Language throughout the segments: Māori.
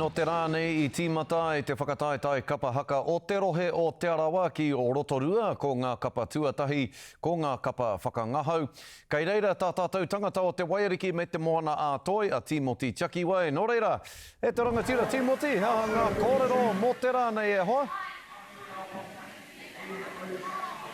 Nō te rā nei i tīmata ai te whakataetae kapa haka o te rohe o Te Arawa ki Rotorua, ko ngā kapa tuatahi, ko ngā kapa whakangahau. Kei reira tā tātou tangata o Te Waiariki me Te Moana-a-Toi, a Tīmoti Tiakiwai. Nō reira, e te rangatira Tīmoti, he aha ngā kōrero mō te rā nei e hoa?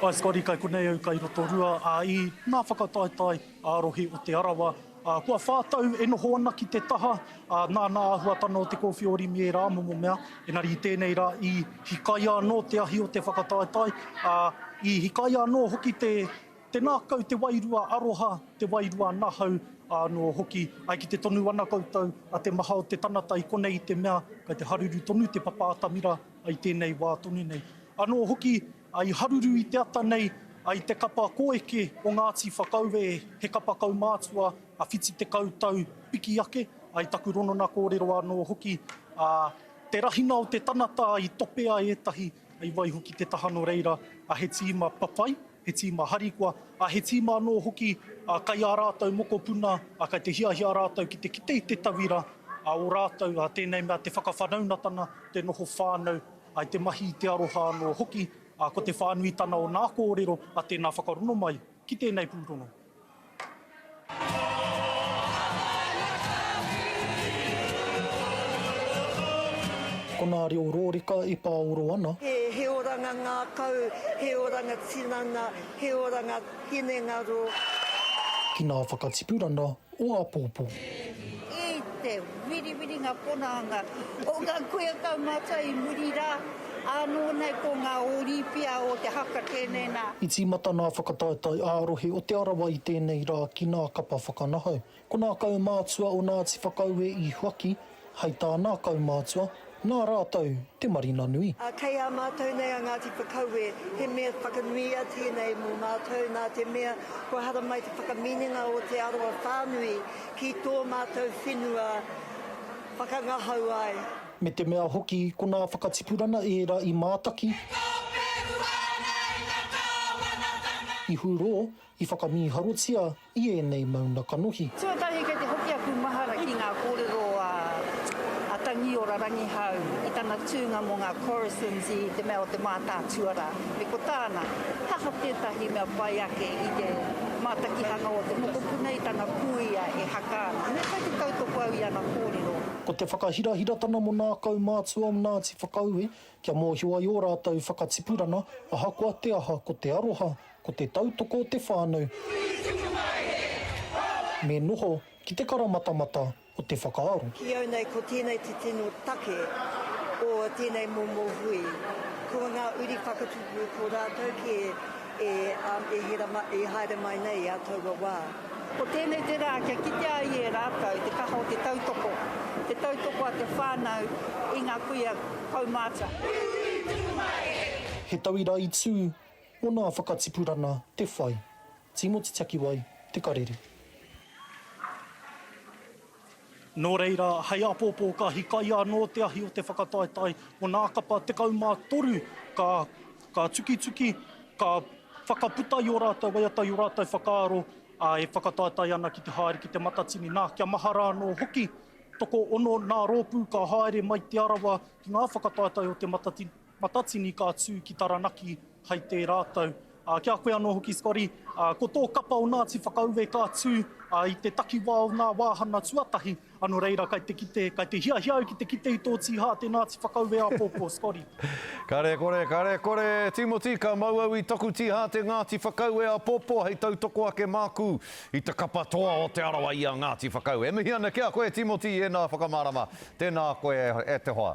Hi Scotty, kai konei au kai Rotorua, ā, i ngā whakataetae ā-rohe o Te Arawa, ā, kua whā tau e noho ana ki te taha, ā, nāna āhuatanga o te kōwhiori me ērā momo mea, engari i tēnei rā i hikaia anō te ahi o te whakataetae, ā, i hikaia anō hoki te, te ngākau, te wairua aroha, te wairua nahau anō hoki. Ai ki te tonu ana koutou, a te maha o te tangata i konei i te mea, kei te haruru tonu te papa atamira i tēnei wā tonu nei. Anō hoki I haruru i te ata nei i te kapa koeke o Ngāti Whakaue, he kapa kaumātua whiti tekau tau piki ake, i taku ronona kōrero anō hoki, ā, te rahina o te tanata i topea ētahi, i waihoki te taha nō reira, he tīma papai, he tīma harikoa, ā, he tīma anō hoki kai ā rātou mokopuna, kai te hiahia rātou ki te kite i te tauira, ā, ō rātou tēnei mea te whakawhanaungatanga, te noho whānau. I te mahi, i te aroha anō hoki, ā, ko te whānuitana o ngā kōrero a tēnā whakarongo mai ki tēnei pūrongo. Ko ngā reo rōreka e pāoro ana. He oranga ngākau, he oranga tinana, he oranga hinengaro. Ki ngā whakatipuranga o āpōpō. I te wiriwiringa ponaanga o ngā kuia taumata i muri rā, ānō nei ko ngā ōrīpia o te haka tēnei nā. I tīmata ngā whakataetae ā-rohe o Te Arawa i tēnei rā ki ngā kapa whakanahau. Ko ngā kaumātua o Ngāti Whakaue i huaki, Hei tā nā kaumātua, nā rātou te marina nui. Ā, kei a mātou nei a Ngāti Whakaue, he mea whakanuia tēnei mō mātou nā te mea kua haramai te whakaminenga o te aroa whānui ki tō mātou whenua whakangahau ai. Me te mea hoki ko nā whakatipurana ērā i mātaki, i hurō, i whakamīharotia, i ēnei mauna kanohi. Tuatahi kei te hoki aku mahara ki ngā kōrero a a Tangiora Rangihau i tana tūnga mō ngā Corrisons i te mea o te mātātuarā, me ko tāna, he aha tētahi mea pai ake i te mātakihanga o te mokopuna i tana kūia e haka ana. Me whai te tautoko au i ana kōrero. Ko te whakahirahiratana mō nā kaumātua o Ngāti Whakaue kia mōhio ai ō rātou whakatipuranga ahakoa te aha ko te aroha Ko te tautoko o te whānau. Uri tupu mai he Hāwai! Me noho ki te karamatamata o te whakaaro. Ki au nei ko tēnei te tino take o tēnei momo hui. Ko ngā uri whakatupu ko rātou kē e haere mai nei i a taua wā. Ko tēnei te rā kia kitea ai e rātou te kaha o te tautoko, te tautoko a te whānau i ngā kuia kaumātua. Uri tupu mai he. He tauira i tū Mo na whakatipurana te whai. Timo te takiwai, te karere. No reira, hei apopo ka hikaia no te ahi o te whakataetae o na kapa 13 ka ka tukituki, ka whakaputa i o ratou waiata i o ratou whakaaro a e whakataetae ana ki te haere ki te matatini. Na, kia mahara ano hoki, tokoono na ropu ka haere mai Te Arawa ki nga whakataetae o te matatini. Matatini ka tū ki Taranaki hai tērā tau. Ki a koe anō hoki Scotty, ko tō kapa o Ngāti Whakaue ka tū i te takiwā o ngā wāhanga tuatahi, nō reira kai te kite, kai te hiahia au ki te kite i tō tīhā te Ngāti Whakaue āpōpō, Scotty. Kare kore, kare kore, Tīmoti, ka mau au i taku tīhā te Ngāti Whakaue āpōpō hei tautoko ake māku i te kapa toa o Te Arawa i a Ngāti Whakaue. E mihi ana ki a koe Tīmoti i ēnā whakamārama, tēnā koe e te hoa.